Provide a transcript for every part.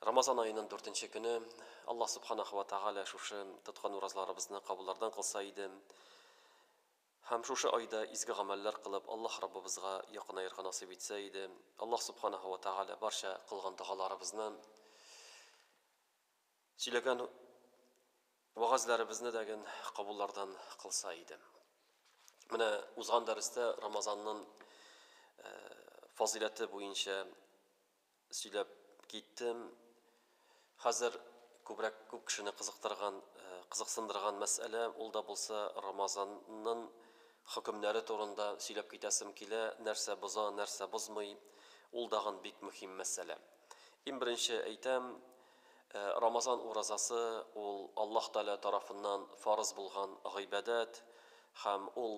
Рамазан аенын дүртенче көне, Аллаһ Субханаху ва Тәгалә шушы тоткан уразларыбызны кабуллардан кылса иде, һәм шушы айда изге гамәлләр кылып Аллаһ Раббыбызга якынаерга насыйп итсә иде, Аллаһ Субханаху ва Тәгалә барча кылган догаларыбызны, сөйләгән вәгазьләребезне дәген кабуллардан кылса иде. Менә узган дәрестә Рамазаннын фазыйләте буенча сөйләп киттем. Хәзер күбрәк күп кешене кызыктырган, кызыксындырган мәсьәлә, ул да булса Рамазаннын хөкемнәре турында сөйләп китәсем килә, нәрсә боза, нәрсә бозмый, ул дагын бик мөһим мәсьәлә. Ин беренче әйтәм, Ә Рамазан уразасы ул Аллаһ Тәгалә тарафыннан фарыз булган гыйбадәт һәм ул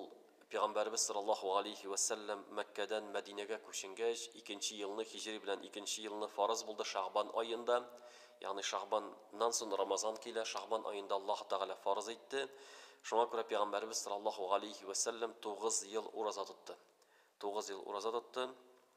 Пигамбәребез саллаллаһу галәйһи вә сәлләм Мәккәдән Мәдинәгә күченгәч, икенче елны, һиҗри белән икенче елны фарыз булды Шәгъбан аенда, ягъни Шәгъбан нан сон Рамазан килә, Шәгъбан аенда Аллаһ Тәгалә фарыз итте. Шуңа күрә Пигамбәребез саллаллаһу галәйһи вә сәлләм тугыз ел ураза тотты. Тугыз ел ураза тотты.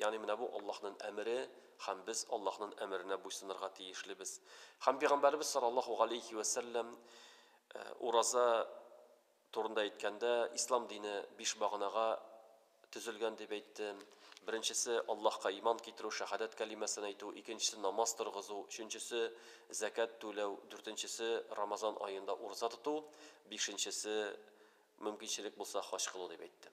Ягъни менә бу Аллаһнын әмере һәм без Аллаһнын әмеренә буйсынырга тиешлебез. Һәм Пигамбәребез саллаллаһу галәйһи вә сәлләм ураза турында әйткәндә, Ислам дине биш баганага төзелгән дип әйтте. Беренчесе, Аллаһка иман китерү, шәһадәт кәлимәсен әйтү, икенчесе, намаз торгызу, өченчесе, зәкят түләү, дүртенчесе, Рамазан аенда ураза тоту, бишенчесе, мөмкинчелек булса, хаҗ кылу дип әйтте.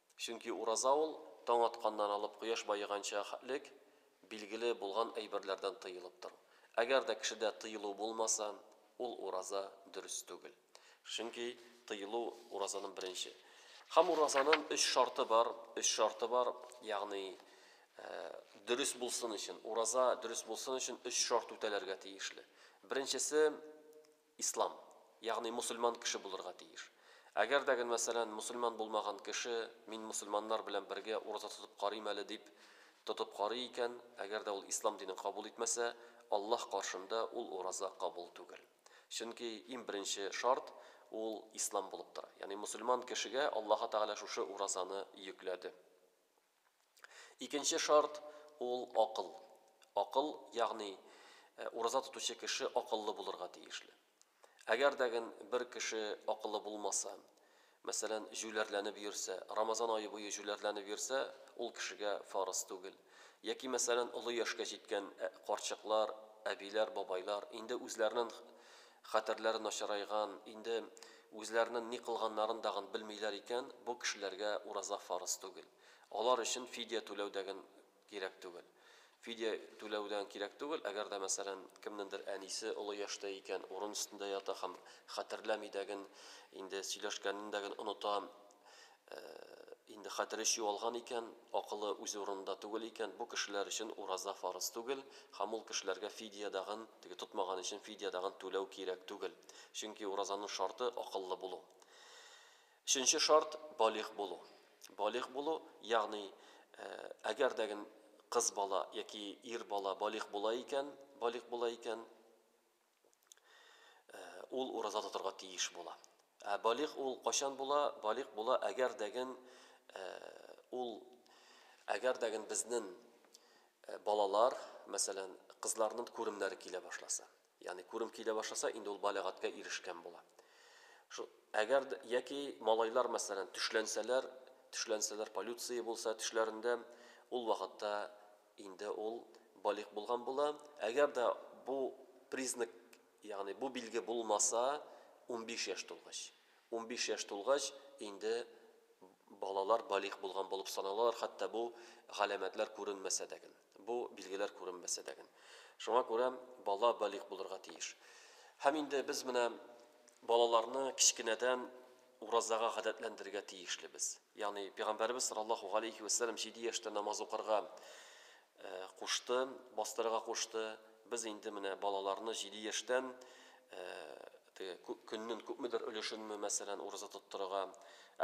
Чөнки ураза ул, таң атканнан алып кояш баеганча лек билгеле булган әйберләрдән тыелып тору. Әгәр дә кешедә тыелу булмаса, ул ураза дөрес түгел. Чөнки тыелу, уразаның беренче. Һәм уразаның өч шарты бар, өч шарты бар, ягъни дөрес булсын өчен, ураза дөрес булсын өчен өч шарт үтәләргә тиешле. Беренчесе, Ислам, ягъни мусульман кеше булырга тиеш. Әгәр дә гел, мәсәлән, мусульман булмаган кеше, мин мусульманнар белән бергә ураза тотып карыйм әле дип, тотып карый икән, әгәр дә ул ислам динен кабул итмәсә, Аллаһ каршында ул ураза кабул түгел. Чөнки иң беренче шарт, ул ислам булып тора. Ягъни мусульман кешегә Аллаһы Тәгалә шушы уразаны йөкләде. Икенче шарт, ул, акыл. Акыл, ягъни, ураза тотучы кеше акыллы булырга тиешле. Әгәр дә ген бер кеше акылы булмаса, мәсәлән, җүләрләнеп йөрсә, Рамазан ае буе җүләрләнеп йөрсә, ул кешегә фарыз түгел. Яки, мәсәлән, олы яшькә җиткән карчыклар, әбиләр, бабайлар, инде үзләренен Хәтерләре начарайган, инде үзләренен ни кылганнарын дагын белмиләр икән, бу кешеләргә ураза фарыз түгел. Алар өчен фидия түләү дәген кирәк түгел. Фидия түләү дәген кирәк түгел, әгәр дә, мәсәлән, кемнендер әнисе олы яшьтә икән, урын өстендә ята һәм хәтерләми дәген, инде сөйләшкәнен дәген оныта, Ә инде хәтере чуалган икән, акылы үз урынында түгел икән, бу кешеләр өчен ураза фарыз түгел һәм ул кешеләргә фидия дагын, теге тотмаган өчен фидия дагын түләү кирәк түгел. Чөнки уразаның шарты, акыллы булу. Өченче шарт, балигъ булу. Балигъ булу, ягъни, әгәр дә ген кыз бала яки ир бала балигъ була икән, балигъ була икән, ул ураза тотарга тиеш була. Ә балигъ ул кайчан була? Балигъ була, әгәр дәген ул әгәр дәген безнен балалар, мәсәлән, кызларнын күремнәре килә башласа. Ягъни күрем килә башласа, инде ул балигатькә ирешкән була. Шул әгәр яки малайлар, мәсәлән, төшләнсәләр, төшләнсәләр, полюция булса тешләрендә, ул вакытта Инде ул балигъ булган була. Әгәр дә бу признак, ягъни бу билге булмаса, унбиш яшь тулгач. Унбиш яшь тулгач, инде балалар балигъ булган булып саналалар, хәтта бу галәмәтләр күренмәсә дә ген, бу билгеләр күренмәсә дә ген. Шуңа күрә бала балигъ булырга тиеш. Һәм инде без менә балаларны кечкенәдән уразага гадәтләндерергә тиешлебез. Ягъни Пәйгамбәребез саллаллаһу галәйһи вә сәлләм җиде яшьтә намаз укырга кушты, бастырырга кушты. Без инде менә балаларны җиде яшьтән теге көннен күпмедер өлешенме, мәсәлән, ураза тоттырырга,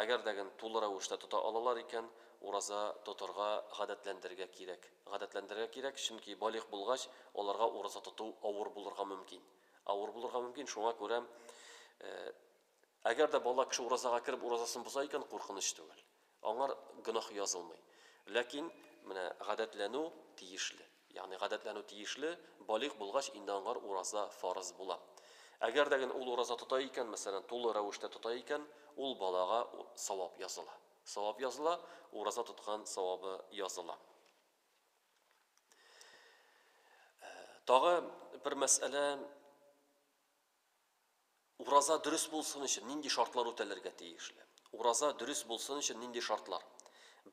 әгәр дә генә тулы рәвештә тота алалар икән, ураза тотырга гадәтләндерергә кирәк. Гадәтләндерергә кирәк, чөнки балигъ булгач, аларга ураза тоту авыр булырга мөмкин. Авыр булырга мөмкин, шуңа күрә Әгәр дә бала кеше уразага кереп уразасын боза икән, куркыныч түгел. Аңар гөнаһ язылмый. Ләкин менә гадәтләнү тиешле. Ягъни гадәтләнү тиешле, балигъ булгач инде аңар ураза фарыз була. Әгәр дә генә ул ураза тота икән, мәсәлән, тулы рәвештә тота икән, ул балага савап языла. Савап языла, ураза тоткан савабы языла. Тагы бер мәсьәлә, Ураза дөрес булсын өчен нинди шартлар үтәлергә тиешле? Ураза дөрес булсын өчен нинди шартлар?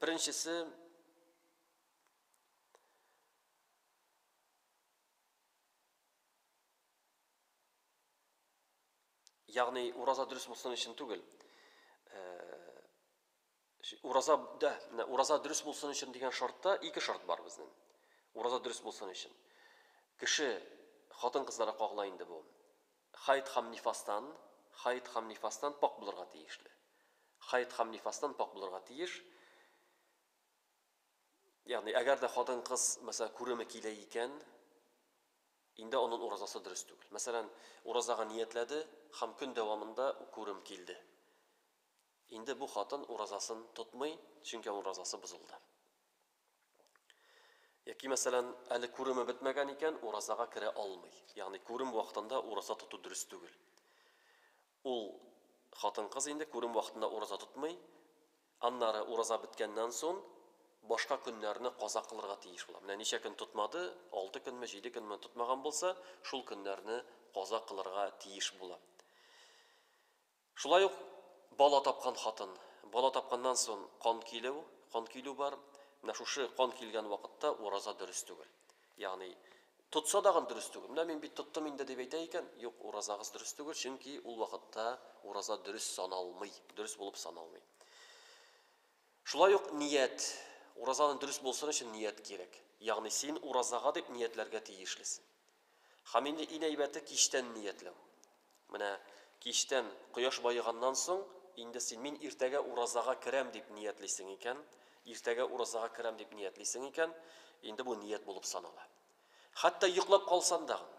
Беренчесе, ягъни ураза дөрес булсын өчен түгел, э, Ураза, дә, менә ураза дөрес булсын өчен дигән шартта ике шарт бар безнең. Ураза дөрес булсын өчен. Кеше, хатын-кызларга кагыла инде бу, хайд һәм нифастан, хайд һәм нифастан пакь булырга тиешле. Хайд һәм нифастан пакь булырга тиеш. Ягъни, әгәр дә хатын-кыз, мәсәлән, күреме килә икән, инде анын уразасы дөрес түгел. Мәсәлән, уразага ниятләде һәм көн дәвамында күрем килде. Инде бу хатын уразасын тотмый, чөнки аның уразасы бозылды. Яки, мәсәлән, әле күреме бетмәгән икән, уразага керә алмый. Ягъни күрем вакытында ураза тоту дөрес түгел. Ул хатын-кыз инде күрем вакытында ураза тотмый, аннары ураза беткәннән сон, башка көннәрне каза кылырга тиеш була. Менә ничә көн тотмады, алты көнме, җиде көнме тотмаган булса, шул көннәрне каза кылырга тиеш була. Шулай ук бала тапкан хатын, бала тапканнан сон кан килү, кан килү бар. Менә шушы кан килгән вакытта ураза дөрес түгел. Ягъни тотса дагын дөрес түгел. Менә мин бит тоттым инде дип әйтә икән, юк, уразагыз дөрес түгел, чөнки ул вакытта ураза дөрес саналмый, дөрес булып саналмый. Шулай ук ният, уразаны дөрес булсын өчен ният кирәк. Ягъни син уразага дип ниятләргә тиешлесен. Һәм инде ин әйбәте кичтән ниятләү. Менә кичтән, кояш баеганнан соң, инде син, мин иртәгә уразага керәм дип ниятлисең икән, иртәгә уразага керәм дип ниятлисең икән, инде бу ният булып санала. Хәтта йоклап калсан дагын,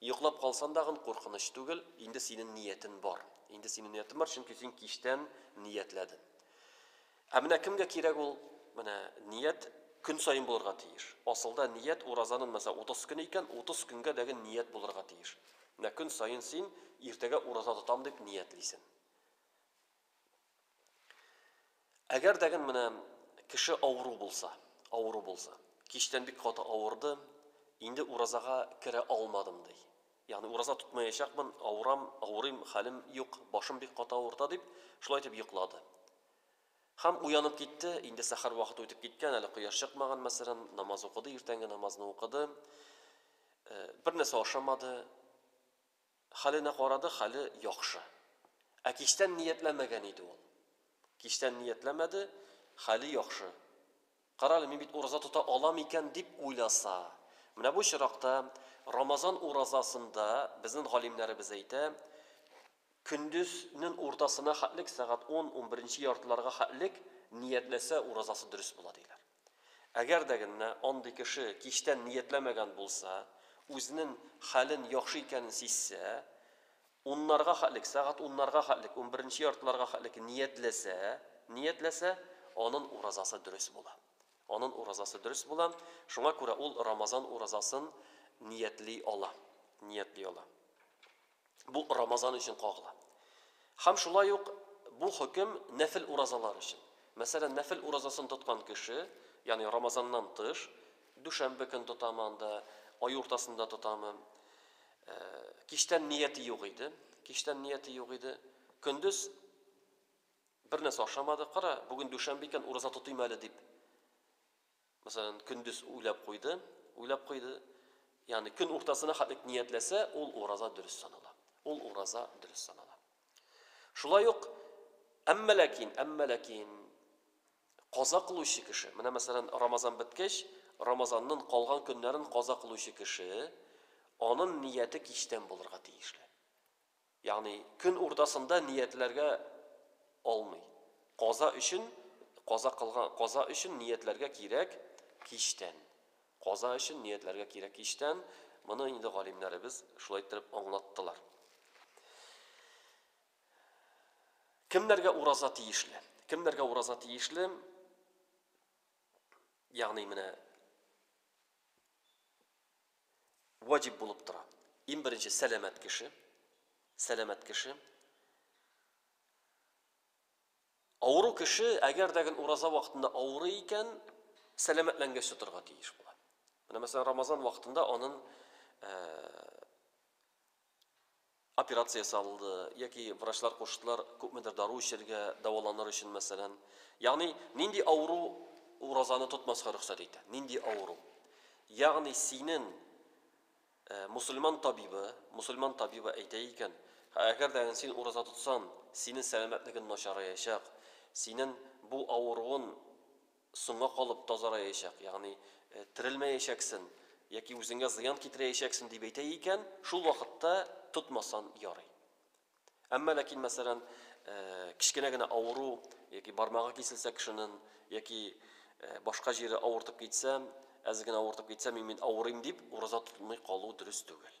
йоклап калсан дагын куркыныч түгел, инде синен ниятен бар. Инде синен ниятен бар, чөнки син кичтән ниятләден. Ә менә кемгә кирәк ул? Менә ният көн саен булырга тиеш. Асылда ният уразанын мәсәлән 30 көн икән, 30 көнгә дәге ният булырга тиеш. Менә көн саен син иртәгә ураза тотам дип ниятлисен. Әгәр дәген менә кеше авыру булса, авыру булса, кичтән бик каты авырды, инде уразага керә алмадым ди. Ягъни ураза тотмаячакмын, авырам, авырыйм, хәлем юк, башым бик каты авырта, дип, шулай итеп йоклады. Һәм уянып китте, инде сәхәр вакыты үтеп киткән, әле кояш чыкмаган, мәсәлән, намаз укыды, иртәнге намазны укыды, бернәрсә ашамады, хәленә карады, хәле яхшы. Ә кичтән ниятләмәгән иде ул. Кичтән ниятләмәде, хәле яхшы. Карале, мин бит ураза тота алам икән, дип уйласа. Менә бу очракта Рамазан уразасында безнен галимнәребез әйтә, көндезнен уртасына хәтлек, сәгать ун, унберенче яртыларга хәтлек ниятләсә, уразасы дөрес була, диләр. Әгәр дә геннә андый кеше кичтән ниятләмәгән булса, үзенен хәлен яхшы икәнен сизсә, Уннарга хәтлек, сәгать уннарга хәтлек, унберенче яртыларга хәтлек ниятләсә, ниятләсә, анын уразасы дөрес була. Анын уразасы дөрес була. Шуңа күрә ул Рамазан уразасын ниятли ала. Ниятли ала. Бу Рамазан өчен кагыла. Һәм шулай ук бу хөкем нәфел уразалар өчен. Мәсәлән, нәфел уразасын тоткан кеше, ягъни Рамазаннан тыш, дүшәмбе көн тотамы анда, ай уртасында тотамы, Ә, кичтән нияте юк иде. Кичтән нияте юк иде. Көндез бер нәрсә ашамады. Кара, бүген дүшәмбе икән, ураза тотыйм әле дип. Мәсәлән, көндез уйлап куйды, уйлап куйды. Ягъни көн уртасына хәтлек ниятләсә, ул ураза дөрес санала. Ул ураза дөрес санала. Шулай ук әмма ләкин, әмма ләкин Каза кылучы кеше, менә мәсәлән, Рамазан беткәч, Рамазаннын калган көннәрен каза кылучы кеше, анын нияте кичтән булырга тиешле. Ягъни, көн уртасында ниятләргә алмый. Каза өчен, каза кылган, каза өчен ниятләргә кирәк кичтән. Каза өчен ниятләргә кирәк кичтән. Моны инде галимнәребез шулай иттереп аңлаттылар. Кемнәргә ураза тиешле? Кемнәргә ураза тиешле? Ягъни менә ваҗиб булып тора. Иң беренче сәламәт кеше, сәламәт кеше. Авыру кеше, әгәр дә гел ураза вакытында авыры икән, сәламәтләнгәч тотырга тиеш була. Менә мәсәлән, Рамазан вакытында аның э, Операция ясалды, яки врачлар куштылар күпмедер дару эчәргә, дәваланыр өчен, мәсәлән. Ягъни, нинди авыру уразаны тотмаска рөхсәт итә? Нинди авыру? Ягъни, синен мусульман табибы, мусульман табибы әйтә икән, әгәр дә син ураза тотсан, синен сәламәтлеген начараячак, синен бу авыруын, Соңга калып тазараячак, ягъни терелмәячәксен яки үзеңә зыян китерәячәксен дип әйтә икән, шул вакытта тотмасан ярый. Әмма ләкин, мәсәлән, кечкенә генә авыру яки бармагы киселсә кешенен, яки башка җире авыртып китсә, әз генә авыртып китсә, мин бит авырыйм дип, ураза тотмый калу дөрес түгел.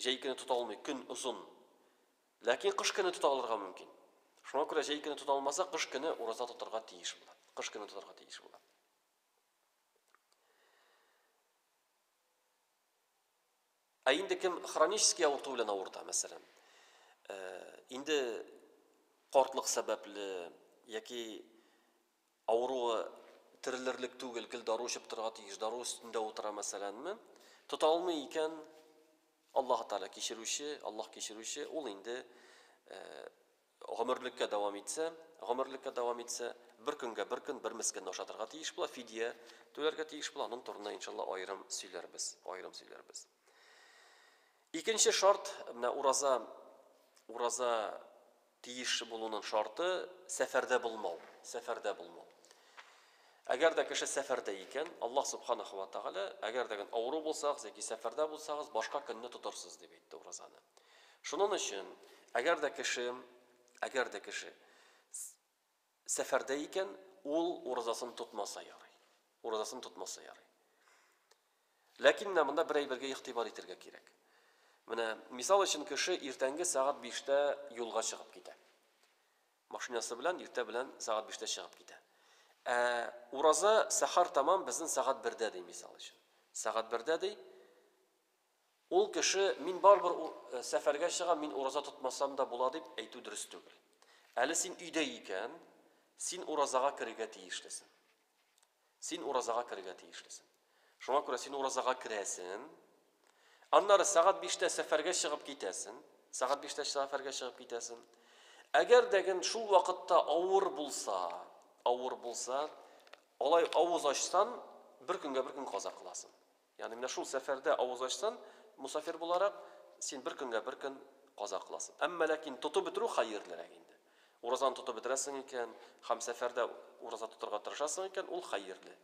Җәй көне тота алмый, көн озын. Ләкин кыш көне тота алырга мөмкин. Шуңа күрә җәй көне тота алмаса, кыш көне ураза тотарга тиеш була. Кыш көне тотарга тиеш була. Ә инде кем хронический авырту белән авырта, мәсәлән, э, инде картлык сәбәпле яки Авыруы терелерлек түгел, гел дару эчеп торырга тиеш, дару өстендә утыра мәсәләнме? Тота алмый икән, Аллаһы Тәгалә кичерүче, Аллаһ кичерүче, ул инде гомерлеккә дәвам итсә, гомерлеккә дәвам итсә, бер көнгә бер көн бер мескенне ашатырга тиеш була, фидия түләргә тиеш була, аның турында иншалла аерым сөйләрбез, аерым сөйләрбез. Икенче шарт, менә ураза, ураза Тиеш булуның шарты, сәфәрдә булмау, сәфәрдә булмау. Әгәр дә кеше сәфәрдә икән, Аллаһ Субханаһу ва Тәгалә, әгәр дә гән авыру булсагыз яки сәфәрдә булсагыз, башка көнне тотырсыз, дип әйтте уразаны. Шунын өчен, әгәр дә кеше, әгәр дә кеше, Сәфәрдә икән, ул уразасын тотмаса ярый. Уразасын тотмаса ярый. Ләкин менә монда бер әйбергә игътибар итергә кирәк. Менә, мисал өчен, кеше иртәнге сәгать биштә юлга чыгып китә. Машинасы белән иртә белән сәгать биштә чыгып китә. Ә ураза сәхәр тәмам безнең сәгать бердә ди, мисал өчен. Сәгать бердә ди. Ул кеше, мин барыбер сәфәргә чыгам, мин ураза тотмасам да була дип әйтү дөрес түгел. Әле син өйдә икән, син уразага керергә тиешлесең. Син уразага керергә тиешлесең. Шуңа күрә син уразага керәсең. Аннары сәгать биштә сәфәргә чыгып китәсең. Сәгать биштә сәфәргә чыгып китәсең. Әгәр дәген шул вакытта авыр булса, авыр булса, алай авыз ачсан, бер көнгә бер көн каза кыласың. Ягъни менә шул сәфәрдә авыз ачсан, мосафир буларак, син бер көнгә бер көн каза кыласың. Әмма ләкин тотып бетерү хәерлерәк инде. Уразаны тотып бетерәсең икән һәм сәфәрдә ураза тотарга тырышасың икән, ул хәерле.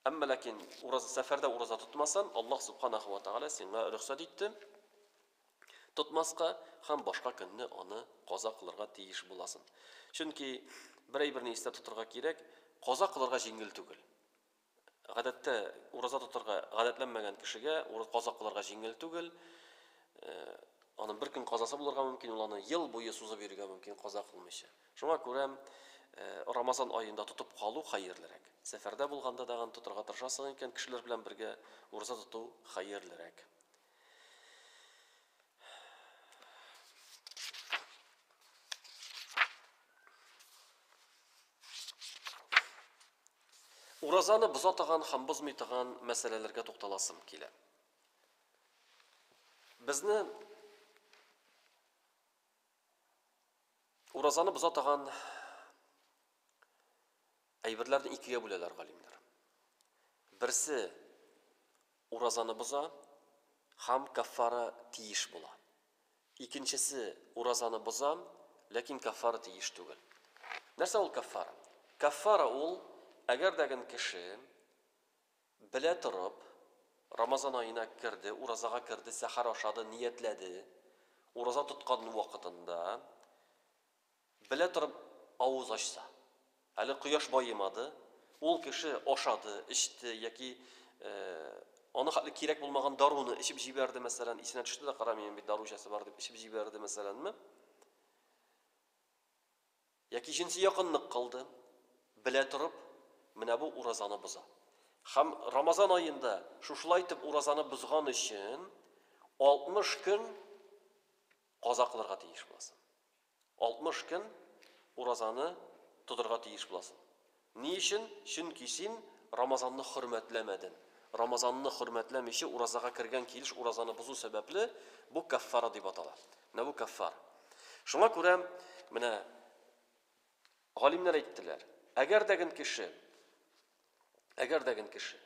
Әмма ләкин ураза, сәфәрдә ураза тотмасан, Аллаһ Субханаһу ва Тәгалә сиңа рөхсәт итте тотмаска һәм башка көнне аны каза кылырга тиеш буласын. Чөнки бер әйберне истә тотырга кирәк, каза кылырга җиңел түгел. Гадәттә, ураза тотарга гадәтләнмәгән кешегә ураза каза кылырга җиңел түгел. Аның бер көн казасы булырга мөмкин, ул аны ел буе сузып йөрергә мөмкин, каза кылмыйча. Шуңа күрә Рамазан аенда тотып калу хәерлерәк. Сәфәрдә булганда тагын тотарга тырышасың икән, кешеләр белән бергә ураза тоту хәерлерәк. Уразаны боза торган һәм бозмый торган мәсьәләләргә тукталасым килә. Безне уразаны боза торган әйберләрне икегә бүләләр галимнәр. Берсе Уразаны боза һәм каффара тиеш була. Икенчесе уразаны боза, ләкин каффара тиеш түгел. Нәрсә ул каффара? Каффара ул, әгәр дә гэн кеше белә торып Рамазан аена керде, уразага керде, сәхәр ашады, ниятләде, ураза тоткан вакытында Белә торып авыз ачса. Әле кояш баемады, ул кеше ашады, эчте яки аны хәтле кирәк булмаган даруны эчеп җибәрде, мәсәлән, исенә төште дә, кара, минем бит дару эчәсе бар дип эчеп җибәрде, мәсәләнме? Яки җенси якынлык кылды, белә торып, менә бу уразаны боза. Хәм Рамазан аенда шушылай итеп уразаны бозган өчен 60 көн Каза кылырга тиеш буласың. 60 көн уразаны тотырга тиеш буласың. Ни өчен? Чөнки син Рамазанны хөрмәтләмәдең. Рамазанны хөрмәтләмиче уразага кергән килеш уразаны бозу сәбәпле, бу каффара дип атала. Менә бу каффар. Шуңа күрә менә галимнәр әйттеләр, әгәр дә гөн кеше, әгәр дә гөн кеше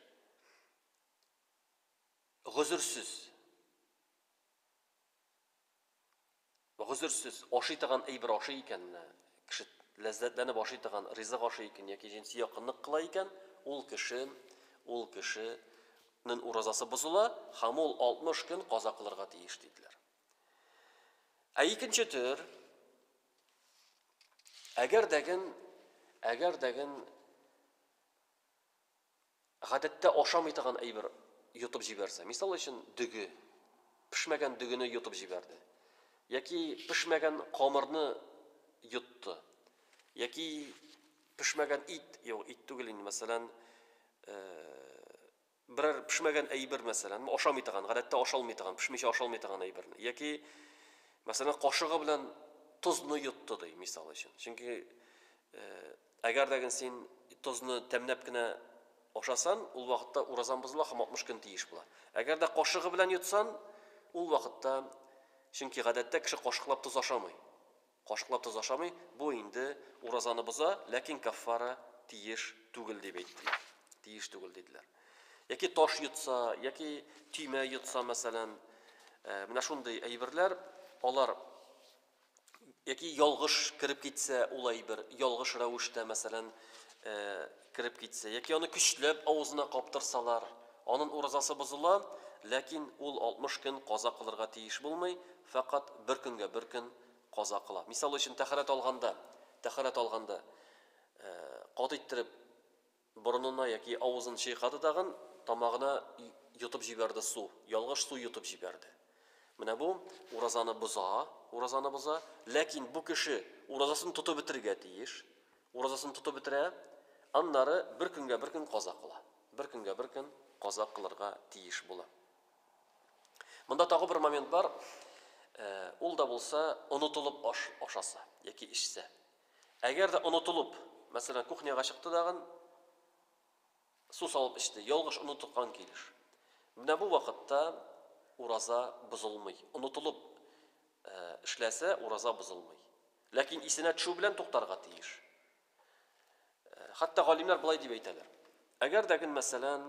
гозерсез Гозерсез, ашый торган әйбер ашый икән, кеше ләззәтләнеп ашый торган ризык ашый икән яки җенси якынлык кыла икән, ул кеше, ул кеше нен уразасы бозыла һәм ул 60 көн каза кылырга тиеш, диделәр. Ә икенче төр, әгәр дәген, әгәр дәген Гадәттә ашамый торган әйбер йотып җибәрсә, мисал өчен, дөге, пешмәгән дөгене йотып җибәрде, яки пешмәгән камырны йотты, яки пешмәгән ит, юк, ит түгел инде, мәсәлән, берәр пешмәгән әйбер, мәсәлән, ашамый торган, гадәттә ашалмый торган, пешмичә ашалмый торган әйберне, яки, мәсәлән, кашыгы белән тозны йотты, ди, мисал өчен. Чөнки Әгәр дә гын син тозны тәмнәп кенә ашасан, ул вакытта уразаң бозыла һәм 60 көн тиеш була. Әгәр дә кашыгы белән йотсан, ул вакытта, чөнки гадәттә кеше кашыклап тоз ашамый. Кашыклап тоз ашамый, бу инде уразаны боза, ләкин каффара тиеш түгел дип әйттеләр. Тиеш түгел диделәр. Яки таш йотса, яки төймә йотса, мәсәлән, менә шундый әйберләр, алар Яки ялгыш кереп китсә ул әйбер, ялгыш рәвештә, мәсәлән, кереп китсә, яки аны көчләп авызына каптырсалар, анын уразасы бозыла, ләкин ул 60 көн каза кылырга тиеш булмый, фәкать бер көнгә бер көн каза кыла. Мисал өчен, тәһарәт алганда, тәһарәт алганда, кат иттереп, Борынына яки авызын чайкады тагын, тамагына йотып җибәрде су, ялгыш су йотып җибәрде. Менә бу уразаны боза, уразаны боза. Ләкин бу кеше уразасын тотып бетерергә тиеш. Уразасын тотып бетерә, аннары бер көнгә бер көн каза кыла. Бер көнгә бер көн каза кылырга тиеш була. Монда тагы бер момент бар, ул да булса, онытылып ашаса яки эчсә. Әгәр дә онытылып, мәсәлән, кухняга чыкты дагын, су салып эчте, ялгыш онытыккан килеш. Менә бу вакытта ураза бозылмый. Онытылып эшләсә, ураза бозылмый. Ләкин исенә төшү белән туктарга тиеш. Хәтта галимнәр болай дип әйтәләр. Әгәр дә гын, мәсәлән,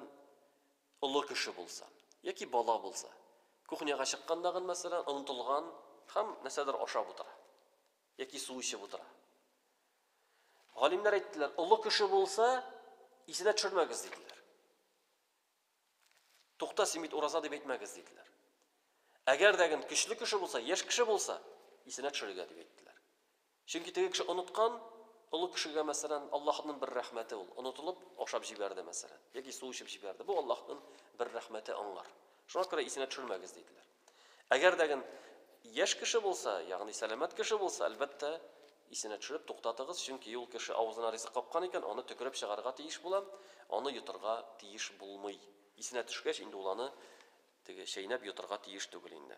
олы кеше булса, яки бала булса, кухняга чыккан дагын, мәсәлән, онытылган һәм нәрсәдер ашап утыра. Яки су эчеп утыра. Галимнәр әйттеләр, олы кеше булса, исенә төшермәгез, диделәр. Тукта, син бит ураза дип әйтмәгез, диделәр. Әгәр дә гын көчле кеше булса, яшь кеше булса, исенә төшерергә дип әйттеләр. Чөнки теге кеше оныткан, олы кешегә мәсәлән, Аллаһның бер рәхмәте ул, онытылып, ашап җибәрде мәсәлән, яки су эчеп җибәрде. Бу Аллаһның бер рәхмәте аңар. Шуңа күрә исенә төшермәгез, диделәр. Әгәр дә ген яшь кеше булса, ягъни сәламәт кеше булса, әлбәттә, исенә төшереп туктатыгыз, чөнки ул кеше авызына ризык капкан икән, аны төкереп чыгарырга тиеш була, аны йотырга тиеш булмый. Исенә төшкәч, инде ул аны теге чәйнәп йотырга тиеш түгел инде.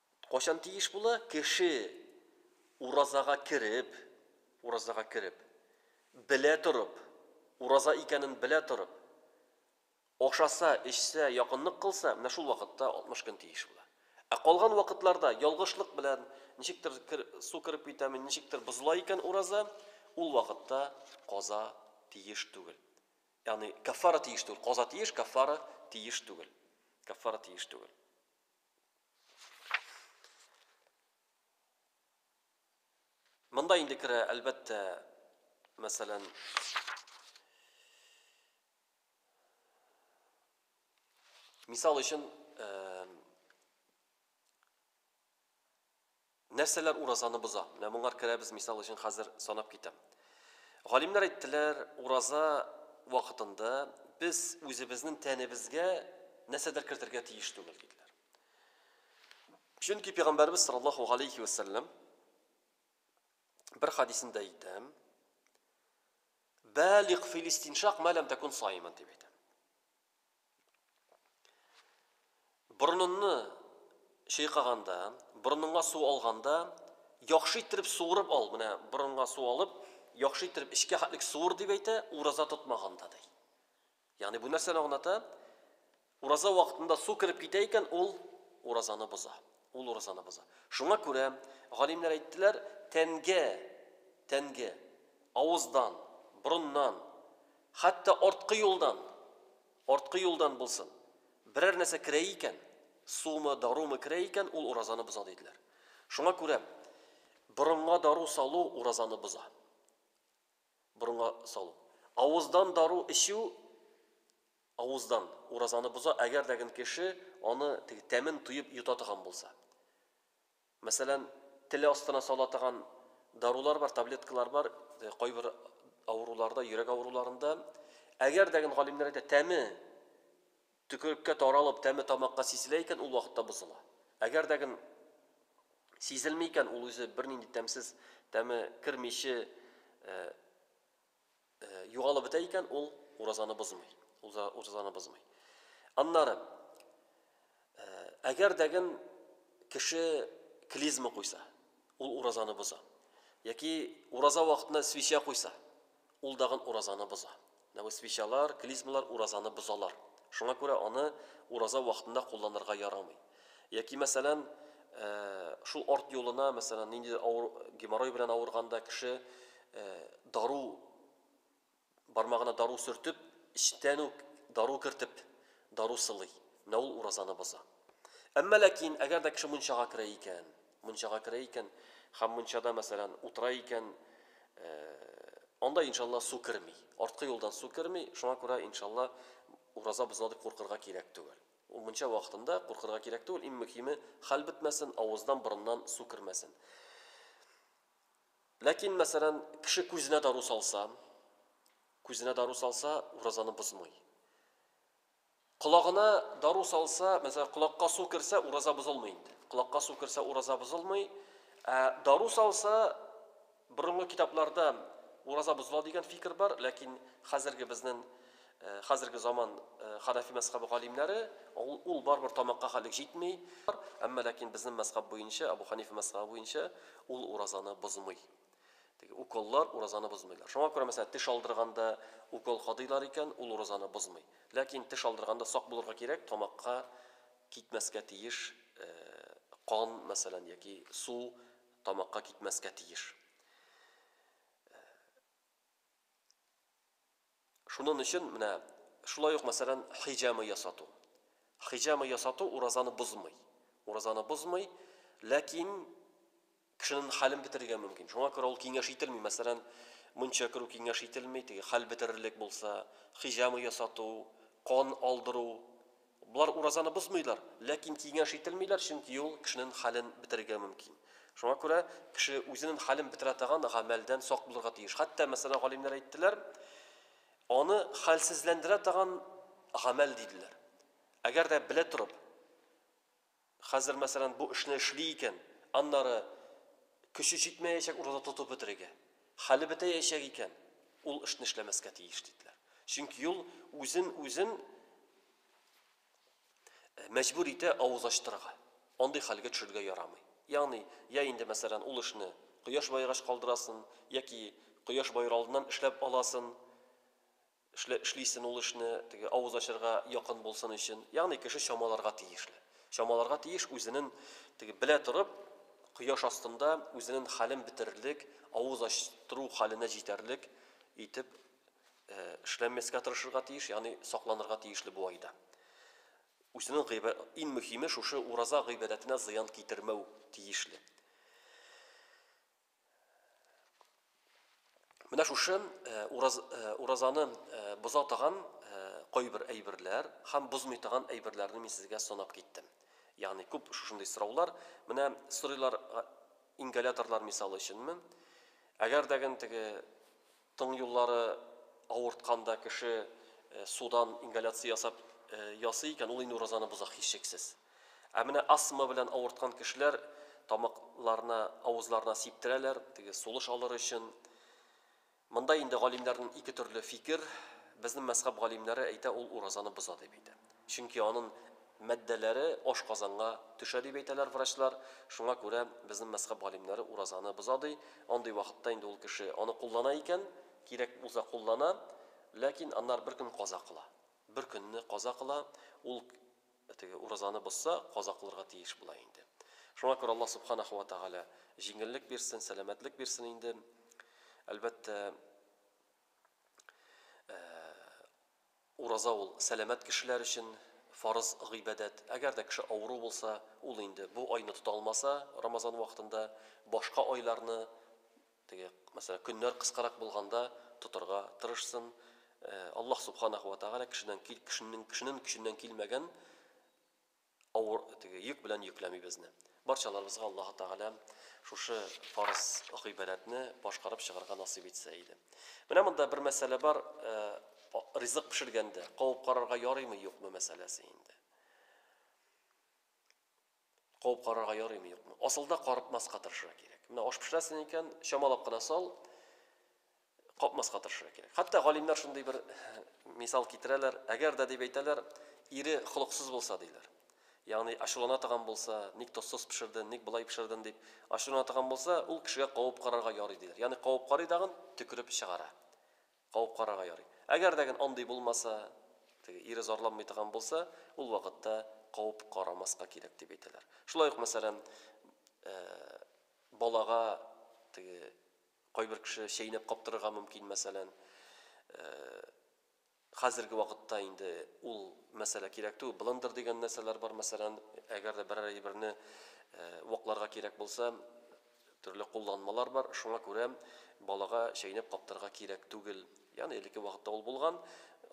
Кайчан тиеш була? Кеше уразага кереп, уразага кереп, белә торып, ураза икәнен белә торып, ашаса, эчсә, якынлык кылса, менә шул вакытта 60 көн тиеш була. Ә калган вакытларда, ялгышлык белән, ничектер су кереп китәме, ничектер бозыла икән ураза, ул вакытта каза тиеш түгел. Ягъни каффара тиеш түгел. Каза тиеш, каффара тиеш түгел. Каффара тиеш түгел. Монда инде керә, әлбәттә, мәсәлән, мисал өчен, Нәрсәләр уразаны боза? Менә моңар керәбез, мисал өчен хәзер санап китәм. Галимнәр әйттеләр, ураза вакытында без үзебезнен тәнебезгә нәрсәдер кертергә тиеш түгел, диделәр. Чөнки пигамбәребез саллаллаһу галәйһи вә сәлләм бер хадисендә әйтә, Бәлигъ фил истиншак мә ләм тәкун саиман, дип әйтә. Борынынны чыйкаганда, борыныңа су алганда, яхшы иттереп суырып ал, менә борынга су алып, яхшы иттереп эчкә хәтлек суыр дип әйтә, ураза тотмаганда ди. Ягъни бу нәрсәне аңлата? Ураза вакытында су кереп китә икән, ул уразаны боза. Ул уразаны боза. Шуңа күрә галимнәр әйттеләр, тәнгә, тәнгә, авыздан, борыннан Хәтта арткы юлдан, арткы юлдан булсын, берәр нәрсә керә икән, сумы, дарумы керә икән, ул уразаны боза, диделәр. Шуңа күрә борынга дару салу уразаны боза. Борынга салу. Авыздан дару эчү, авыздан, уразаны боза, әгәр дә ген кеше аны теге тәмен тоеп йота торган булса. Мәсәлән, теле астына сала таган дарулар бар, таблеткалар бар, кайбер авыруларда, йөрәк авыруларында. Әгәр дә гын, галимнәр әйтә, тәме төкереккә таралып, тәме тамакка сизелә икән, ул вакытта бозыла. Әгәр дә гын сизелми икән, ул үзе бернинди тәмсез, тәме кермиче югалып бетә икән, ул уразаны бозмый. Ул уразаны бозмый. Аннары әгәр дәген кеше клизма куйса, ул уразаны боза. Яки ураза вакытында свеча куйса, ул дагын уразаны боза. Менә бу свечалар, клизмалар уразаны бозалар. Шуңа күрә аны ураза вакытында кулланырга ярамый. Яки, мәсәлән, шул арт юлына, мәсәлән, ниндидер авыр геморрой белән авырганда кеше дару, бармагына дару сөртеп, эчтән үк дару кертеп, дару сылый. Менә ул уразаны боза. Әмма ләкин, әгәр дә кеше мунчага керә икән, мунчага керә икән һәм мунчада, мәсәлән, утыра икән, анда, иншалла, су керми. Арткы юлдан су керми, шуңа күрә, иншалла, ураза бозыла дип куркырга кирәк түгел. Ул мунча вакытында куркырга кирәк түгел, иң мөһиме, хәл бетмәсен, авыздан, борыннан су кермәсен. Ләкин, мәсәлән, кеше күзенә дару салса, күзенә дару салса, уразаны бозмый. Колагына дару салса, мәсәлән, колакка су керсә, ураза бозылмый инде. Колакка су керсә, ураза бозылмый. Ә дару салса, Борынгы китапларда ураза бозыла дигән фикер бар, ләкин хәзерге безнен хәзерге заман ханафи мәзхәбе галимнәре ул барыбер тамакка хәлек җитми, әмма ләкин безнен мәзхәб буенча, Әбу Хәнифә мәзхәбе буенча ул уразаны бозмый. Теге уколлар уразаны бозмыйлар. Шуңа күрә, мәсәлән, теш алдырганда укол кадыйлар икән, ул уразаны бозмый. Ләкин теш алдырганда сак булырга кирәк, тамакка китмәскә тиеш кан, мәсәлән, яки су, Тамакка китмәскә тиеш. Шунын өчен менә шулай ук мәсәлән хиҗама ясату. Хиҗама ясату уразаны бозмый. Уразаны бозмый, ләкин кешенен хәлен бетерергә мөмкин. Шуңа күрә ул киңәш ителми. Мәсәлән, мунча керү киңәш ителми, теге хәл бетерерлек булса, хиҗама ясату, кан алдыру, Болар уразаны бозмыйлар, ләкин киңәш ителмиләр, чөнки ул кешенен хәлен бетерергә мөмкин. Шуңа күрә кеше үзенен хәлен бетерә таган гамәлдән сак булырга тиеш. Хәтта, мәсәлән, галимнәр әйттеләр, аны хәлсезләндерә таган гамәл диделәр. Әгәр дә белә торып, Хәзер, мәсәлән, бу эшне эшли икән, аннары көче җитмәячәк ураза тотып бетерергә. Хәле бетәячәк икән, ул эшне эшләмәскә тиеш, диделәр. Чөнки ул үзен-үзен мәҗбүр итә авыз ачтырырга. Андый хәлгә төшерергә ярамый. Ягъни, я инде, мәсәлән, ул эшне кояш баегач калдырасын, яки кояш баер алдыннан эшләп аласын. Эшлә, эшлисен ул эшне, теге авыз ачарга якын булсын өчен. Ягъни кеше чамаларга тиешле. Чамаларга тиеш үзенен теге белә торып, кояш астында үзенен хәлен бетерерлек, авыз ачтыру хәленә җитәрлек итеп эшләмәскә тырышырга тиеш, ягъни сакланырга тиешле бу айда. Үзенен гыйбә, ин мөхиме шушы ураза гыйбадәтенә зыян китермәү тиешле. Менә шушы ураз, уразаны боза торган кайбер әйберләр һәм бозмый торган әйберләрне мин сезгә санап киттем. Ягъни күп шушындый сораулар, менә сорыйлар ингаляторлар мисалы өченме? Әгәр дәген теге Тын юллары авырткан да кеше судан ингаляция ясап ясый икән, ул инде уразаны боза, һичшиксез. Ә менә астма белән авырткан кешеләр тамакларына, авызларына сиптерәләр, теге сулыш алыр өчен. Монда инде галимнәрнең ике төрле фикер, безнең мәзхәб галимнәре әйтә, ул уразаны боза дип әйтә. Чөнки анын Матдәләре ашказанга төшә дип әйтәләр врачлар, шуңа күрә безнең мәзхәб галимнәре уразаны боза ди, андый вакытта инде ул кеше аны куллана икән, кирәк булса куллана, ләкин аннары бер көн каза кыла. Бер көнне каза кыла, ул теге уразаны бозса, каза кылырга тиеш була инде. Шуңа күрә Аллаһ Субханаһу ва Тәгалә җиңеллек бирсен, сәламәтлек бирсен инде. Әлбәттә, Ураза ул, сәламәт кешеләр өчен фарыз гыйбадәт. Әгәр дә кеше авыру булса, ул инде бу айны тота алмаса, Рамазан вакытында, башка айларны, теге, мәсәлән, көннәр кыскарак булганда, тотырга тырышсын. Аллаһ Субханаһу ва Тәгалә кешедән кешенең көченнән килмәгән, авыр теге йөк белән йөкләми безне. Барчаларыбызга Аллаһы Тәгалә шушы фарыз гыйбадәтне башкарып чыгарга насыйп итсә иде. Менә монда бер мәсьәлә бар, ризык пешергәндә кабып карарга ярыймы, юкмы мәсьәләсе инде. Кабып карарга ярыймы, юкмы? Асылда карытмаска тырышырга кирәк. Менә аш пешерәсең икән, чамалап кына сал. капмаска тырышырга кирәк. Хәтта галимнәр шундый бер мисал китерәләр, әгәр дә дип әйтәләр, ире холыксыз булса, диләр. Ягъни ачулана торган булса, ник тозсыз пешерден, ник болай пешерден дип ачулана торган булса, ул кешегә кабып карарга ярый, диләр. Ягъни кабып карый дагын төкереп чыгара. Кабып карарга ярый. Әгәр дә генә андый булмаса, теге ире зарланмый торган булса, ул вакытта кабып карамаска кирәк дип әйтәләр. Шулай ук мәсәлән, балага теге Кайбер кеше чәйнәп каптырырга мөмкин, мәсәлән. Хәзерге вакытта инде ул мәсьәлә кирәк түгел. Блендер дигән нәрсәләр бар, мәсәлән, әгәр дә берәр әйберне вакларга кирәк булса, төрле кулланмалар бар. Шуңа күрә балага чәйнәп каптырырга кирәк түгел. Ягъни элекке вакытта ул булган,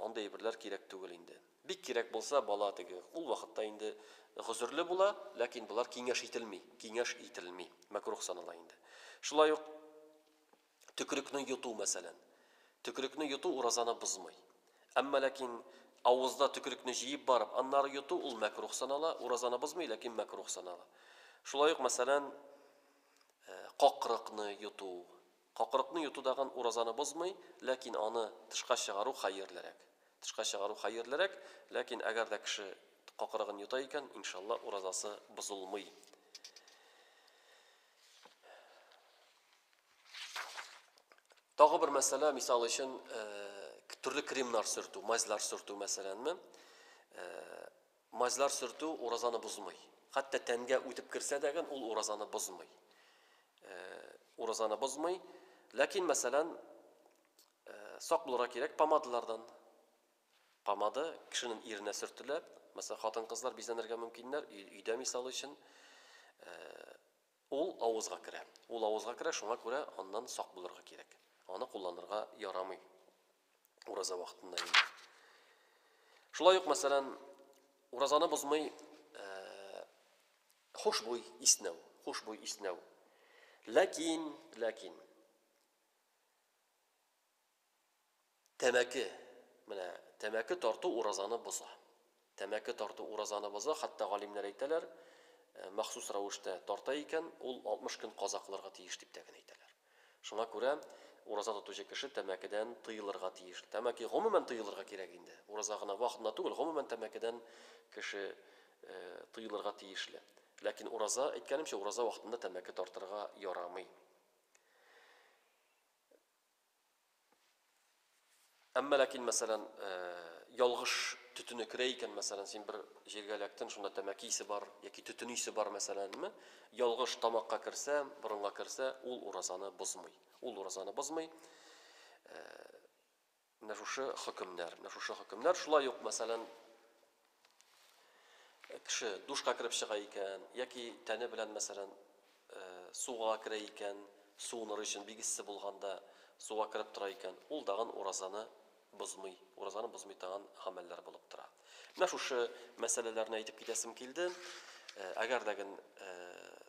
андый әйберләр кирәк түгел инде. Бик кирәк булса, бала теге, ул вакытта инде гозерле була, ләкин болар киңәш ителми, киңәш ителми, мәкруһ санала инде. Шулай ук төкерекне йоту, мәсәлән. Төкерекне йоту уразаны бозмый. Әмма ләкин авызда төкерекне җыеп барып, аннары йоту, ул мәкруһ санала, уразаны бозмый, ләкин мәкруһ санала. Шулай ук, мәсәлән, какрыкны йоту, Какырыкны йоту дагын уразаны бозмый, ләкин аны тышка чыгару хәерлерәк. Тышка чыгару хәерлерәк, ләкин әгәр дә кеше какырыгын йота икән, иншалла, уразасы бозылмый. Тагы бер мәсьәлә, мисал өчен, төрле кремнар сөртү, мазьлар сөртү мәсьәләнме? Мазьлар сөртү уразаны бозмый. Хәтта тәнгә үтеп керсә дәгән ул уразаны бозмый. Уразаны бозмый. Ләкин, мәсәлән, сак булырга кирәк помадалардан. Помада кешенең иренә сөртелә. Мәсәлән, хатын-кызлар бизәнергә мөмкиннәр, өйдә мисал өчен. Ул авызга керә. Ул авызга керә, шуңа күрә аннан сак булырга кирәк. Аны кулланырга ярамый ураза вакытында инде. Шулай ук, мәсәлән, уразаны бозмый хушбуй иснәү, хушбуй иснәү. Ләкин, ләкин. Тәмәке. Менә тәмәке тарту уразаны боза. Тәмәке тарту уразаны боза, хәтта галимнәр әйтәләр, махсус рәвештә тарта икән, ул 60 көн каза кылырга тиеш дип тә генә әйтәләр. Шуңа күрә ураза тотучы кеше тәмәкедән тыелырга тиеш. Тәмәке гомумән тыелырга кирәк инде. Ураза гына вакытында түгел, гомумән тәмәкедән кеше тыелырга тиешле. Ләкин ураза, әйткәнемчә, ураза вакытында тәмәке тартырга ярамый. Әмма ләкин, мәсәлән, ялгыш төтене керә икән, мәсәлән, син бер җиргә эләктен, шунда тәмәке исе бар яки төтен исе бар, мәсәләнме, ялгыш тамакка керсә, борынга керсә, ул уразаны бозмый. Ул уразаны бозмый. Менә шушы хөкемнәр, менә шушы хөкемнәр. Шулай ук, мәсәлән, Кеше душка кереп чыга икән, яки тәне белән, мәсәлән, суга керә икән, суыныр өчен бик эссе булганда суга кереп тора икән, ул дагын уразаны бозмый. Уразаны бозмый тагын гамәлләр булып тора. Менә шушы мәсьәләләрне әйтеп китәсем килде. Әгәр дә ген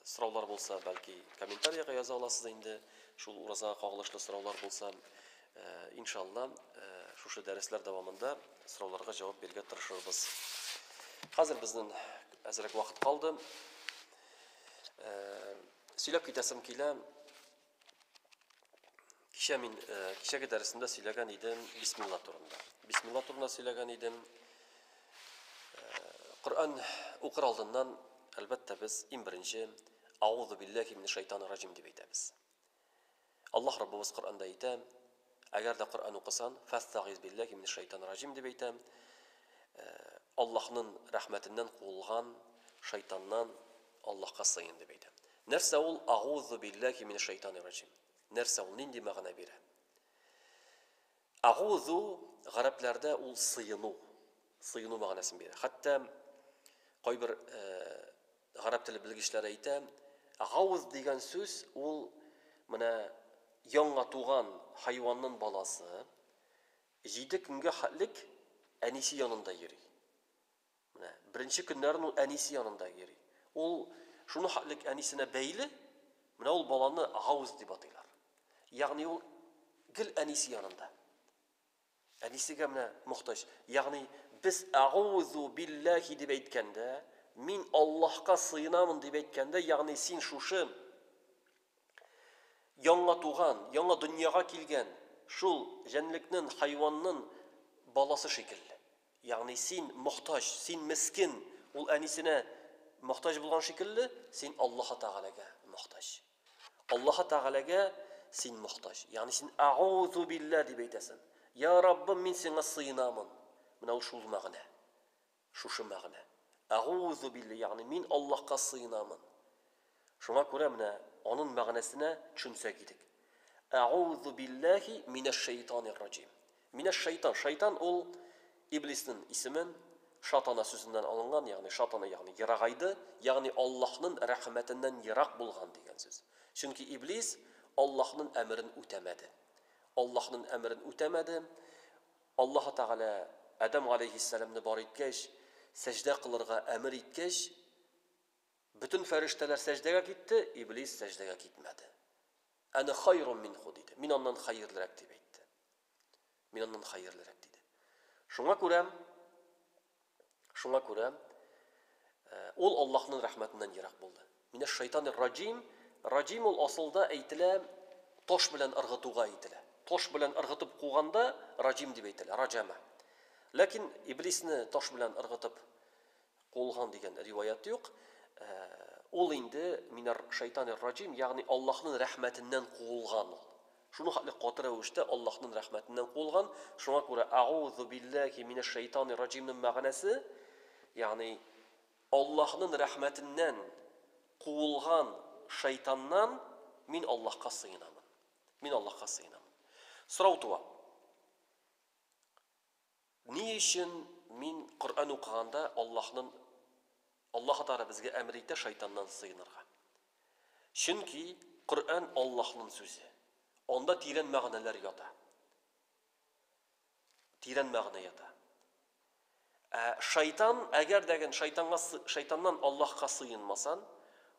сораулар булса, бәлки комментариягә яза аласыз инде. Шул уразага кагылышлы сораулар булса, Иншалла, шушы дәресләр дәвамында сорауларга җавап бирергә тырышырбыз. Хәзер безнен әзрәк вакыт калды. Сөйләп китәсем килә. Кичә мин кичәге дәресендә сөйләгән идем бисмилла турында. Бисмилла турында сөйләгән идем. Коръән укыр алдыннан, әлбәттә, без иң беренче Аузу биллахи минеш шайтанир ражим дип әйтәбез. Аллаһ Раббыбыз Коръәндә әйтә, Әгәр дә Коръән укысан, фәстәгыйз билләһи минәш шәйтанир раҗим дип әйтә. Аллаһның рәхмәтеннән куылган шайтаннан Аллаһка сыен дип әйтә. Нәрсә ул агузу билләһи минәш шәйтанир раҗим? Нәрсә ул? Нинди мәгънә бирә? Агу-зу гарәпләрдә ул сыену, сыену мәгънәсен бирә. Хәтта кайбер гарәп теле белгечләре әйтә, гауз дигән сүз ул менә яңа туган хайваннын баласы җиде көнгә хәтлек әнисе янында йөри. Менә беренче көннәрен ул әнисе янында йөри. Ул шуны хәтлек әнисенә бәйле, менә ул баланы гауз дип атыйлар. Ягъни ул гел әнисе янында. Әнисегә менә мохтаҗ. Ягъни без агузу билләһи дип әйткәндә, мин Аллаһка сыенамын дип әйткәндә, ягъни син шушы Яңа туган, яңа дөньяга килгән шул җәнлекнен, хайваннын баласы шикелле. Ягъни син мохтаҗ, син мескен ул әнисенә мохтаҗ булган шикелле, син Аллаһы Тәгаләгә мохтаҗ. Аллаһы Тәгаләгә син мохтаҗ. Ягъни син Әгъузу биллә дип әйтәсен. Йа Раббым, мин сиңа сыенамын. Менә ул шул мәгънә. Шушы мәгънә. Әгуузу билли, ягъни мин Аллаһка сыенамын. Шуңа күрә менә анын мәгънәсенә төшенсәк идек. Әгуузу билләһи минәшшәйтанирраҗим. Минәшшәйтан, шайтан ул Иблиснен исемен, шатана сүзеннән алынган, ягъни шатана ягъни ерагайды, ягъни Аллаһнын рәхмәтеннән ерак булган дигән сүз. Чөнки Иблис Аллаһнын әмерен үтәмәде. Аллаһнын әмерен үтәмәде. Аллаһы Тәгалә Адәм галәйһиссәламне бар иткәч, сәҗдә кылырга әмер иткәч, бөтен фәрештәләр сәҗдәгә китте, Иблис сәҗдәгә китмәде. Әнә хайрун минһу, диде. Мин аннан хәерлерәк, дип әйтте. Мин аннан хәерлерәк, диде. Шуңа күрә. Шуңа күрә ул Аллаһның рәхмәтеннән ерак булды. Минәш шайтанир раҗим, раҗим ул асылда әйтелә таш белән ыргытуга әйтелә. Таш белән ыргытып куганда раҗим дип әйтелә, раҗәмә. Ләкин Иблисне таш белән ыргытып куылган дигән риваять юк. Ул инде минәр шайтанир раҗим, ягъни Аллаһның рәхмәтеннән куылган ул. Шуның хәтле каты рәвештә Аллаһның рәхмәтеннән куылган, шуңа күрә Әгъузу билләһи минәшшәйтанир раҗимның мәгънәсе, ягъни Аллаһның рәхмәтеннән куылган шайтаннан мин Аллаһка сыенамын. Мин Аллаһка сыенамын. Сорау туа. Ни өчен мин Коръән укыганда Аллаһнын Аллаһы Тәгалә безгә әмер итә шайтаннан сыенырга? Чөнки Коръән Аллаһнын сүзе. Анда тирән мәгънәләр ята. Тирән мәгънә ята. Ә шайтан, әгәр дә ген шайтанга шайтаннан Аллаһка сыенмасан,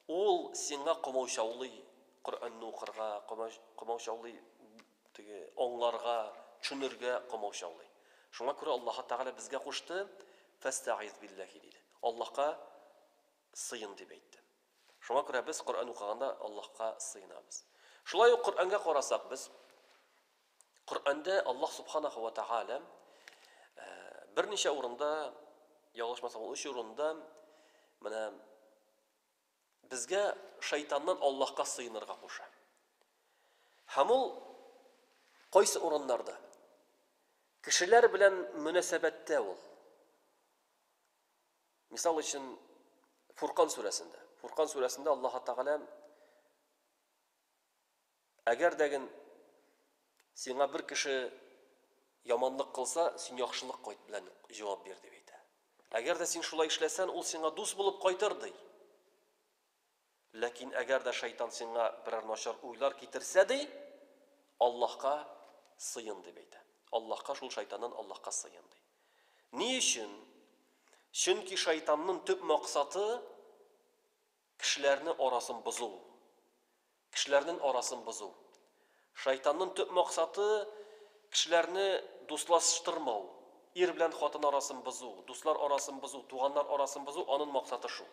ул сиңа комаучаулый Коръәнне укырга, комаучаулый Теге аңларга, тшүнергә комаучаулый. Шуңа күрә Аллаһы Тәгалә безгә кушты, Фәстәгыйз билләһи, диде. Аллаһка сыен, дип әйтте. Шуңа күрә без Коръән укыганда Аллаһка сыенабыз. Шулай ук Коръәнгә карасак без, Коръәндә Аллаһ Субханаһу ва Тәгалә берничә урында, ялгышмасам ул өч урында, менә, Безгә шайтаннан Аллаһка сыенырга куша. Һәм ул кайсы урыннарда? Кешеләр белән мөнәсәбәттә ул. Мисал өчен, Фуркан сүрәсендә. Фуркан сүрәсендә Аллаһ Тәгалә Әгәр дә ген сиңа бер кеше яманлык кылса, син яхшылык кайт белән җавап бир, дип әйтә. Әгәр дә син шулай эшләсән, ул сиңа дус булып кайтыр, ди. Ләкин әгәр дә шайтан сиңа берәр начар уйлар китерсә, ди, Аллаһка сыен, дип әйтә. Аллаһка, шул шайтаннан Аллаһка сыен, ди. Ни өчен? Чөнки шайтаннын төп максаты, Кешеләрне арасын бозу. Кешеләрнен арасын бозу. Шайтаннын төп максаты, кешеләрне дуслаштырмау. Ир белән хатын арасын бозу, дуслар арасын бозу, туганнар арасын бозу, анын максаты шул.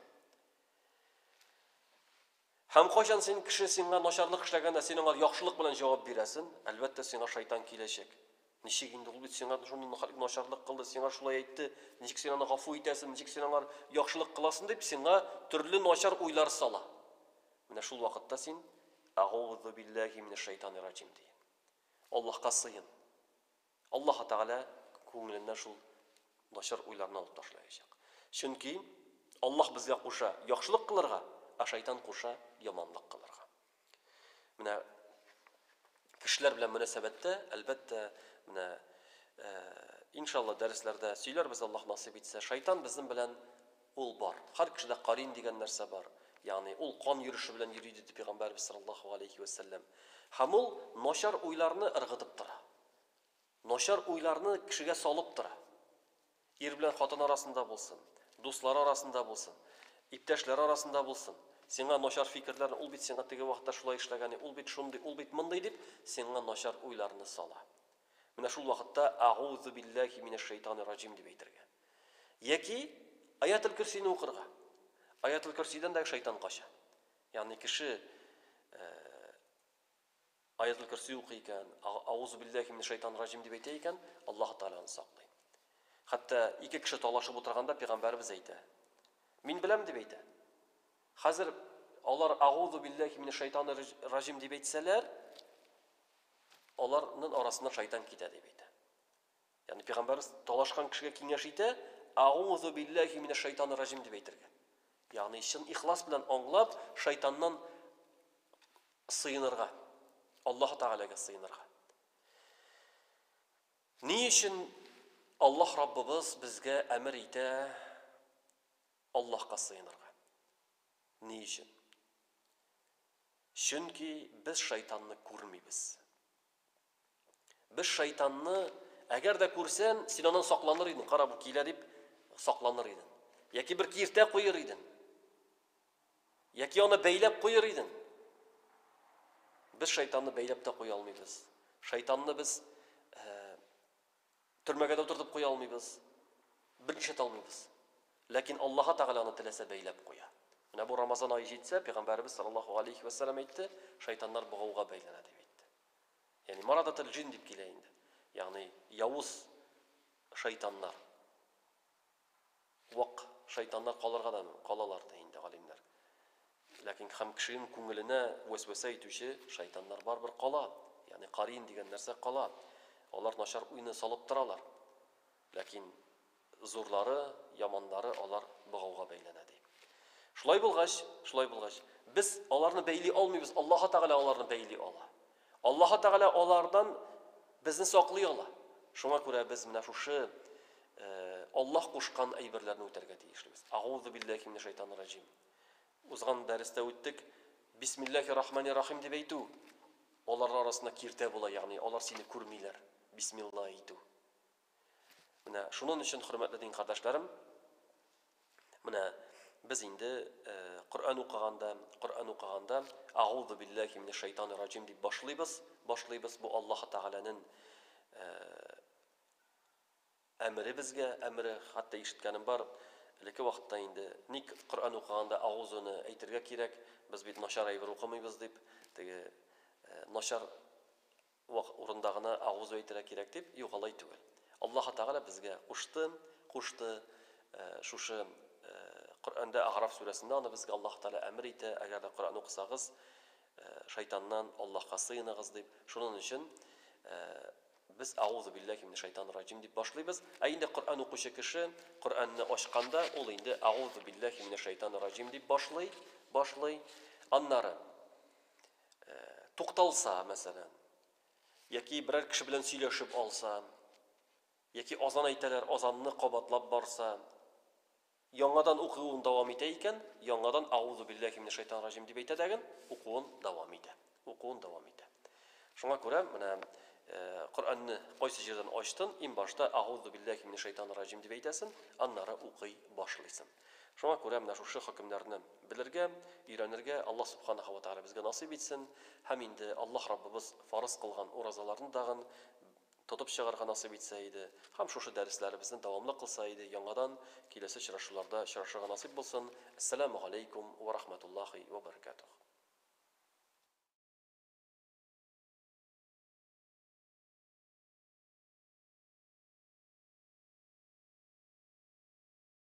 Һәм кайчан син кеше сиңа начарлык эшләгәндә, син аңа яхшылык белән җавап бирәсен, әлбәттә, сиңа шайтан киләчәк. Ничек инде ул бит сиңа шундый нахак начарлык кылды, сиңа шулай әйтте, ничек син аны гафу итәсең, ничек син аңар яхшылык кыласың дип сиңа төрле начар уйлар сала. Менә шул вакытта син Агоузу билләһи минәш шайтани раҗим ди. Аллаһка сыен. Аллаһ Тәгалә күңеленнән шул начар уйларны алып ташлаячак. Чөнки Аллаһ безгә куша яхшылык кылырга, ә шайтан куша яманлык кылырга. Менә кешеләр белән мөнәсәбәттә, әлбәттә, менә иншалла дәресләрдә сөйләрбез Аллаһ насыйп итсә, шайтан безнең белән ул бар. Һәр кешедә карин дигән нәрсә бар. Ягъни ул кан йөреше белән йөри диде пәйгамбәрбез саллаллаһу алейхи ва саллям. Һәм ул начар уйларны ыргытып тора. Начар уйларны кешегә салып тора. Ир белән хатын арасында булсын, дуслар арасында булсын, иптәшләр арасында булсын, сиңа начар фикерләрне, ул бит сиңа теге вакытта шулай эшләгәни, ул бит шундый, ул бит мондый дип, сиңа начар уйларны сала. Менә шул вакытта Агузу билләһи минәш шәйтанир раҗим дип әйтергә. Яки Аятел көрсине укырга. Аятел көрсидән дә шайтан кача. Ягъни кеше Аятул көрси укый икән, Аузу биллахи мине шайтан раҗим дип әйтә икән, Аллаһ Тәгалә аны саклый. Хәтта ике кеше талашып утырганда пәйгамбәрбез әйтә. Мин беләм дип әйтә. Хәзер алар Аузу биллахи мине шайтан раҗим дип әйтсәләр, аларның арасына шайтан китә дип әйтә. Ягъни пәйгамбәрбез талашкан кешегә киңәш итә, Аузу биллахи мине шайтан раҗим дип әйтергә. Ягъни чын ихлас белән аңлап, шайтаннан Сыенырга. Аллаһы Тәгаләгә сыенырга. Ни өчен Аллаһ Раббыбыз безгә әмер итә Аллаһка сыенырга? Ни өчен? Чөнки без шайтанны күрмибез. Без шайтанны, әгәр дә күрсән, син аннан сакланыр идең, кара, бу килә дип сакланыр идең. Яки бер киртә куер идең. Яки аны бәйләп куер идең. Без шайтанны бәйләп тә куя алмыйбыз. Шайтанны без э, Төрмәгә дә утыртып куя алмыйбыз, бернишләтә алмыйбыз. Ләкин Аллаһы Тәгалә аны теләсә бәйләп куя. Менә бу Рамазан ае җитсә, Пәйгамбәребез саллаллаһу галәйһи вә сәлләм әйтте, шайтаннар богауга бәйләнә дип әйтте. Ягъни марадатул-җин дип килә инде. Ягъни явыз шайтаннар. Вак шайтаннар калырга да калалар, ди инде галимнәр. Ләкин һәм кешенең күңеленә вәсвәсә итүче шайтаннар барыбер кала, ягъни кариин дигән нәрсә кала. Алар начар уйны салып торалар. Ләкин зурлары, яманнары алар богауга бәйләнә, ди. Шулай булгач, шулай булгач, без аларны бәйли алмыйбыз, Аллаһы Тәгалә аларны бәйли ала. Аллаһы Тәгалә алардан безне саклый ала. Шуңа күрә без менә шушы Аллаһ кушкан әйберләрне үтәргә тиешлебез. Агузу биллахи минәш шайтанир раҗим. Узган дәрестә үттек. Бисмиллахи рахмани рахим дип әйтү. Алар арасында киртә була, ягъни алар сине күрмиләр. Бисмилла әйтү. Менә шунын өчен, хөрмәтле дин кардәшләрем, менә без инде Коръән укыганда, Коръән укыганда Аузу биллахи минеш шайтаны раҗим дип башлыйбыз, башлыйбыз бу Аллаһ Тәгаләнең әмере безгә, әмере, хәтта ишеткәнем бар, элекке вакытта инде ник Коръән укыганда Аузуны әйтергә кирәк, без бит начар әйбер укымыйбыз дип, теге начар Вак урында гына Әгъузу әйтергә кирәк дип, юк, алай түгел. Аллаһы Тәгалә безгә кушты, кушты, шушы Коръәндә Әгъраф сүрәсендә аны безгә Аллаһы Тәгалә әмер итә, әгәр дә Коръән укысагыз, шайтаннан Аллаһка сыеныгыз дип. Шунын өчен без Әгъузу билләһи минәш шайтанир раҗим дип башлыйбыз. Ә инде Коръән укучы кеше Коръәнне ачканда, ул инде Әгъузу билләһи минәш шайтанир раҗим дип башлый, башлый. Аннары. тукталса, мәсәлән, яки берәр кеше белән сөйләшеп алса, яки азан әйтәләр, азанны кабатлап барса, яңадан укуын дәвам итә икән, яңадан аузу биллахи минәш шайтан ражим дип әйтә дәген, укуын дәвам итә. Укуын дәвам итә. Шуңа күрә менә э, Коръәнне кайсы җирдән ачтын, иң башта аузу биллахи минәш шайтан ражим дип әйтәсен, аннары укый башлыйсын. Шуңа күрә менә шушы хөкемнәрне белергә, өйрәнергә Аллаһ Субханаһу ва Тәгалә безгә насыйп итсен һәм инде Аллаһ Раббыбыз фарыз кылган уразаларны дагын тотып чыгарга насыйп итсә иде һәм шушы дәресләребезне дәвамлы кылса иде, яңадан киләсе очрашуларда очрашырга насыйп булсын. Әссәләмү галәйкүм вә рахмәтуллаһи вә бәрәкәтүһ.